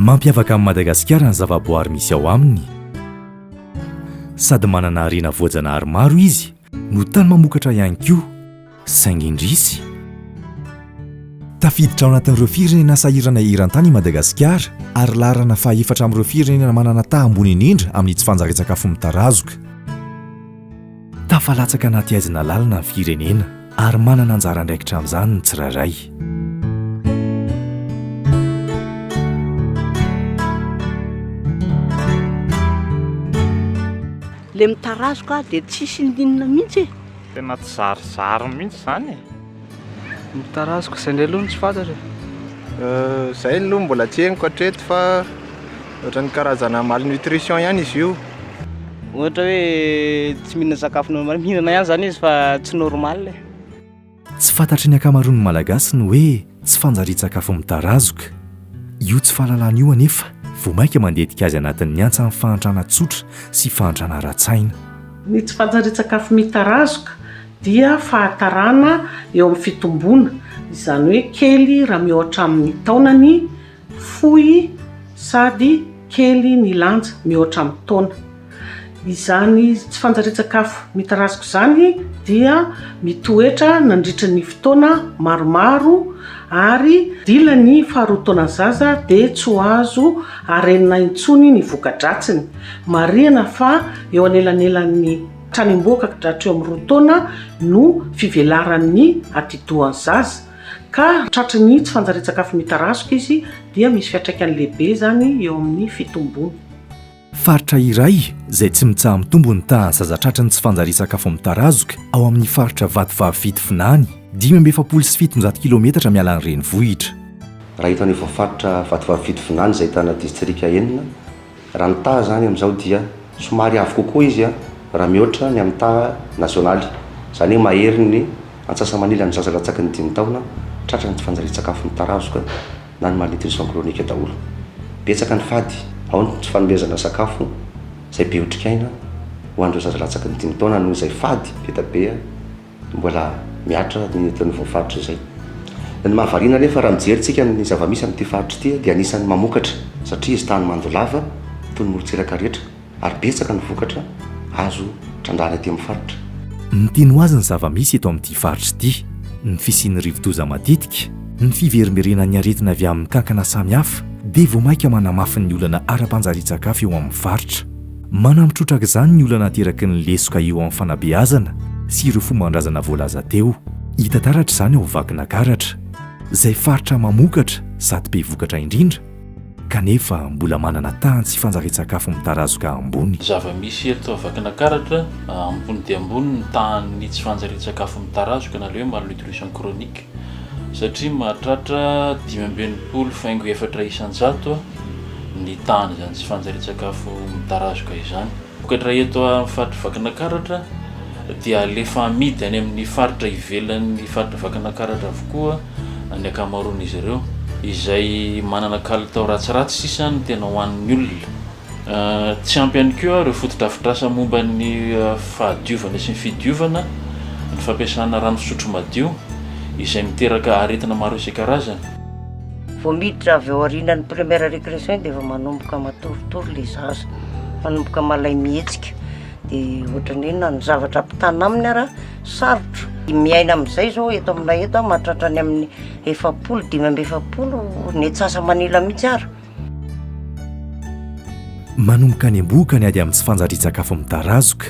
Mampiavaka an'i Madagasikara ny zavaboary misy ao aminy. Sady manana harena voajanahary maro izy no tany mamokatra ihany koa. Saingy indrisy, tafiditra ao anatin'ireo firenena sahirana eran-tany i Madagasikara ary laharana fahefatra amin'ireo firenena manana taha ambony indrindra amin'ny tsy fanjarian-tsakafo mitarazoka. Tafalatsaka anaty haizina lalina ny firenena ary manana anjara andraikitra amin'izany ny tsirairay. le mitarazoka dia tsisy ndinina mihitsy e. Tena tsy zarizary mihitsy izany e! Ny taraziko, izay indray aloha no tsy fantatra e! Izay aloha mbola tsy henoko hatreto fa ohatran'ny karazana malnutrition ihany izy io. Ohatra hoe tsy mihinana sakafo normal, mihinana ihany izany izy fa tsy normal e! Tsy fantatry ny ankamaroan'ny Malagasy ny hoe Tsy fanjarian-tsakafo mitarazoka io tsy fahalalana io anefa vao mainka mandetika azy anatin'ny antsan'ny fahantrana tsotra sy fahantrana ara-tsaina. Ny tsy fanjarian-tsakafo mitarazoka dia fahatarana eo amin'ny fitomboana, izany hoe kely raha mihoatra amin'ny taonany Fohy sady kely ny lanja, mihoatra amin'ny taona. Izany tsy fanjarian-tsakafo mitarazoka izany dia mitoetra nandritra ny fotoana maromaro ary dila ny faharoa taonan'ny zaza dia tsy ho azo arenina intsony ny voka-dratsiny. Marihana fa eo anelanelan'ny tranombohoka ka hatreo amin'ny roa taona no fivelaran'ny atidohan'ny zaza. Ka tratry ny tsy fanjarian-tsakafo mitarazoka izy dia misy fiantraikany lehibe izany eo amin'ny fitombony. Faritra iray izay tsy mitsaha-mitombo ny tahan'ny zaza tratry ny tsy fanjarian-tsakafo mitarazoka ao amin'ny faritra Vatovavy Fito Vinany, dimy amby efapolo sy fitonjato kilometatra miala ny renivohitra. Raha eto anivon'ny faritra Vatovavy Fito Vinany izay ahitana distrika enina, Raha ny taha izany amin'izao dia somary avo kokoa izy raha mihoatra ny amin'ny taha nazionaly, izany hoe mahery ny antsasa-manilan'ny zaza latsaky ny dimy taona tratra anaty fanjarian-tsakafo mitarazoka na ny malnutrition chronique daholo. Betsaka ny fady, ao ny tsy fanomezana sakafo izay be otrikaina ho an'ireo zaza latsaky ny dimy taona noho izay fady be dia be, Mbola mihatra ny eto anivon'ny faritra izay. Ny mahavariana anefa raha mijery tsika ny zava-misy amin'ity faritra ity dia anisan'ny mamokatra satria izy tany mando lava toy ny morontsiraka rehetra ary betsaka ny vokatra azo trandrahana ety amin'ny faritra. Ny tiany ho azy ny zava-misy eto amin'ity faritra ity, ny fisian'ny rivodoza matetika, ny fiverimberenan'ny aretina avy amin'ny kankana samihafa dia vao mainka manamafy ny olana ara-panjarian-tsakafo eo amin'ny faritra. Manampy trotraka izany ny olana ateraky ny lesoka eo amin'ny fanabeazana sy ireo fomban-drazana voalaza teo. Hita taratra izany ao Vakinakaratra, izay faritra mamokatra sady be vokatra indrindra, kanefa mbola manana tahan'ny tsy fanjarian-tsakafo mitarazoka ambony. Zava-misy eto Vakinakaratra, ambony dia ambony ny tahan'ny tsy fanjarian-tsakafo mitarazoka na ilay hoe malnutrition chronique. satria mahatratra dimy amby enimpolo faingo efatra isan-jato ny tahan'izany tsy fanjarian-tsakafo mitarazoka izany. Vokatra eto amin'ny faritra Vakinakaratra dia alefa amidy any amin'ny faritra ivelan'ny faritra Vakinakaratra avokoa ny ankamaroan'izy ireo, izay manana kalitao ratsiratsy sisa no tena hohanin'ny olona. Tsy ampy ihany koa ireo fotodrafitrasa momba ny fahadiovana sy ny fidiovana ny fampiasana rano fisotro madio, izay miteraka aretina maro isan-karazany. Vao miditra avy ao aorianan'ny première récréation iny dia efa manomboka matoritory ilay zaza, manomboka malay mihetsika, dia ohatran'ny hoe na ny zavatra ampitana aminy ara sarotra. Miaina amin'izay izao eto aminay eto mahatratra any amin'ny efapolo, dimy amby efapolo ny atsasa-manila mihitsy ara. Manomboka any am-bohoka ny ady amin'ny tsy fanjarian-tsakafo mitarazoka.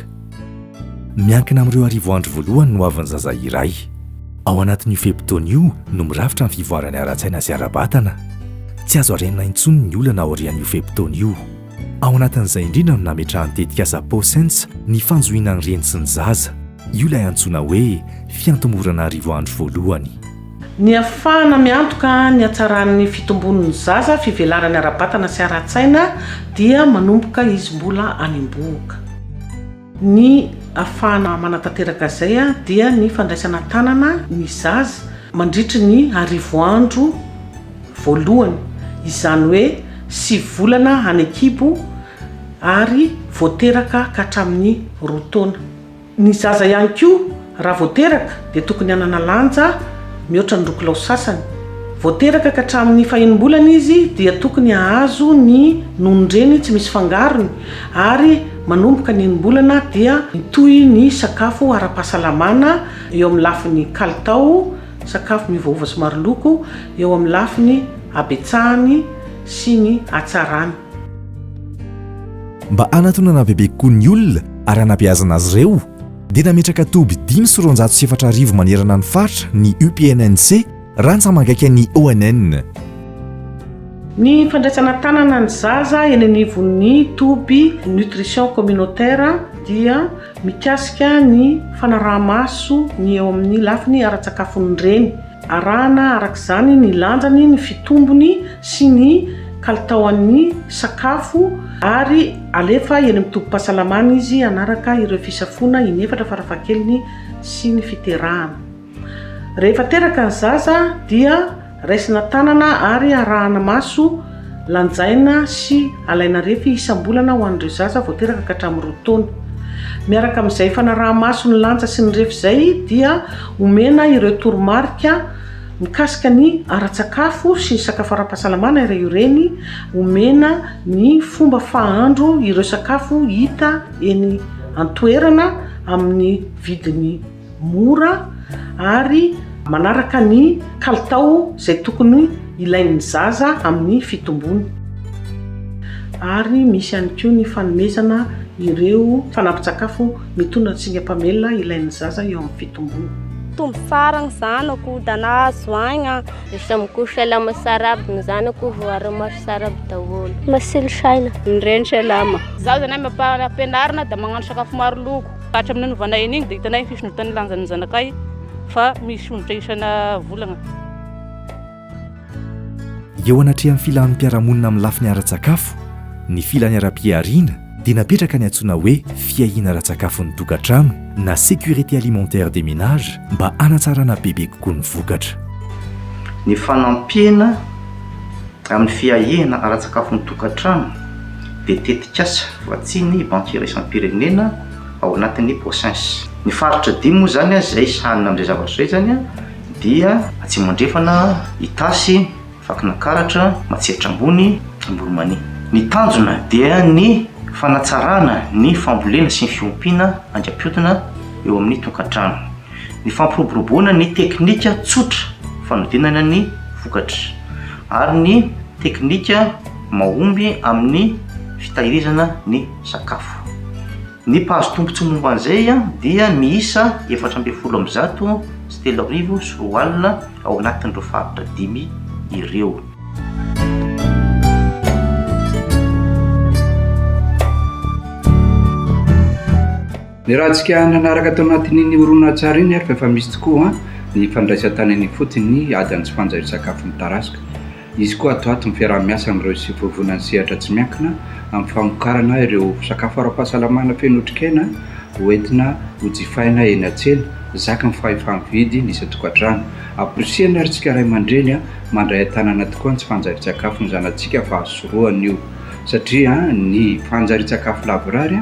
Miankina amin'ireo arivo andro voalohany ny hoavin'ny zaza iray. Ao anatin'io fe-potoana io no mirafitra ny fivoarany ara-tsaina sy ara-batana. Tsy azo arenina intsony ny olana aorian'io fe-potoana io. Ao anatin'izay indrindra no nametrahan'ny tetikasa POSENSE ny fanjohiana ny reny sy ny zaza. Io ilay antsoina hoe fiantomorana arivo andro voalohany. Ny hafahana miantoka ny hatsaran'ny fitombon'ny zaza, fivelarany ara-batana sy ara-tsaina dia manomboka izy mbola any am-bohoka. Ny hafahana manatanteraka izay dia ny fandraisana an-tanana ny zaza mandritry ny arivo andro voalohany, izany hoe sivy volana any an-kibo ary vao teraka ka hatramin'ny roa taona. Ny zaza ihany koa raha vao teraka dia tokony hanana lanja mihoatra ny roa kilao sasany. Vao teraka ka hatramin'ny fahenim-bolana izy dia tokony hahazo ny nonon-dreny tsy misy fangarony ary manomboka ny enim-bolana dia mitohy ny sakafo ara-pahasalamana eo amin'ny lafiny kalitao, sakafo miovaova sy maro loko, eo amin'ny lafiny habetsahany sy ny hatsarany. Mba hanatonana bebe kokoa ny olona ary hanabeazana azy ireo, dia nametraka toby dimy sy roanjato sy efatra arivo manerana ny faritra ny UPNNC, rantsamangaikan'ny ONN. Ny fandraisana tanana ny zaza eny anivon'ny toby Nutrition Communautaire dia Mikasika ny fanaraha-maso ny eo amin'ny lafiny ara-tsakafon'ny reny, arahana araka izany ny lanjany, ny fitombony sy ny kalitaon'ny sakafo ary alefa eny amin'ny tobim-pahasalamana izy hanaraka ireo fisafoana inefatra farafahakeliny sy ny fiterahana. Rehefa teraka ny zaza dia raisina tanana ary arahana maso, lanjaina sy alaina refy isam-bolana ho an'ireo zaza vao teraka ka hatramin'ny roa taona. Miaraka amin'izay fanaraha-maso ny lanja sy ny refy izay dia omena ireo toromarika mikasika ny ara-tsakafo sy ny sakafo ara-pahasalamana ireo reny, omena ny fomba fahandro ireo sakafo hita eny an-toerana amin'ny vidiny. mora ary manaraka ny kalitao izay tokony ilain'ny zaza amin'ny fitomboany ary misy ihany koa ny fanomezana ireo fanampin-tsakafo mitondra ny singa mpamelona ilain'ny zaza eo amin'ny fitomboany. Tombo tsara ny zanako, dana azo aigna. Isamiko salama saraby, ny zanako voary maso saraby daholo. Masilo saina. Ny reny salama. Zaza na ampianarina dia magnano sakafo maro loko. Hatramin'ny nanovanay an'iny dia hitanay ny fisondrotan'ny lanjan'ny zanakay fa misy ondritra isana volagna. Eo anatrehan'ny filan'ny mpiara-monina amin'ny lafiny ara-tsakafo, ny filany ara-pihariana dia napetraka ny antsoina hoe fiahiana ara-tsakafon'ny tokantrano na sécurité alimentaire des ménages mba hanatsarana bebe kokoa ny vokatra. Ny fanampiana amin'ny fiahiana ara-tsakafon'ny tokantrano. dia tetikasa voatsian'ny Banky Iraisam-pirenena ao anatin'ny POSINS. Ny faritra dimy moa izany izay sahanina amin'izay zavatra izay izany dia. Atsimo Andrefana, Itasy, Vakinankaratra, Matsiatra Ambony, Amboromania. Ny tanjona dia ny fanatsarana ny fambolena sy ny fiompiana aingam-piodina eo amin'ny tokantrano. Ny fampiroboroboana ny teknika tsotra fanodinana ny vokatra ary ny teknika mahomby amin'ny fitahirizana ny sakafo. Ny mpahazo tombontsoa momba an'izay dia miisa efatra ambin'ny folo amby zato sy telo arivo sy roa alina ao anatin'ireo faritra dimy ireo. Ny ratsika nanaraka tao anatin'iny horonantsary iny ary fa efa misy tokoa ny fandraisan-tany any ifotony ny ady an'i Sifanja io sakafon'ny tarasika. Hisy koa atoato ny fiaraha-miasa amin'ireo sivy vovonan'ny sehatra tsy miankina amin'ny famokarana ireo sakafo ara-pahasalamana feno otrikaina ho entina hojifaina eny an-tsena, zakan'ny fahefa-mividy ny isan-tokantrano. Amporisihana ary tsika ray aman-dreny mandray an-tanana tokoa ny tsy fanjarian-tsakafon'ny zanatsika fa sorohana io satria ny fanjarian-tsakafo lavorary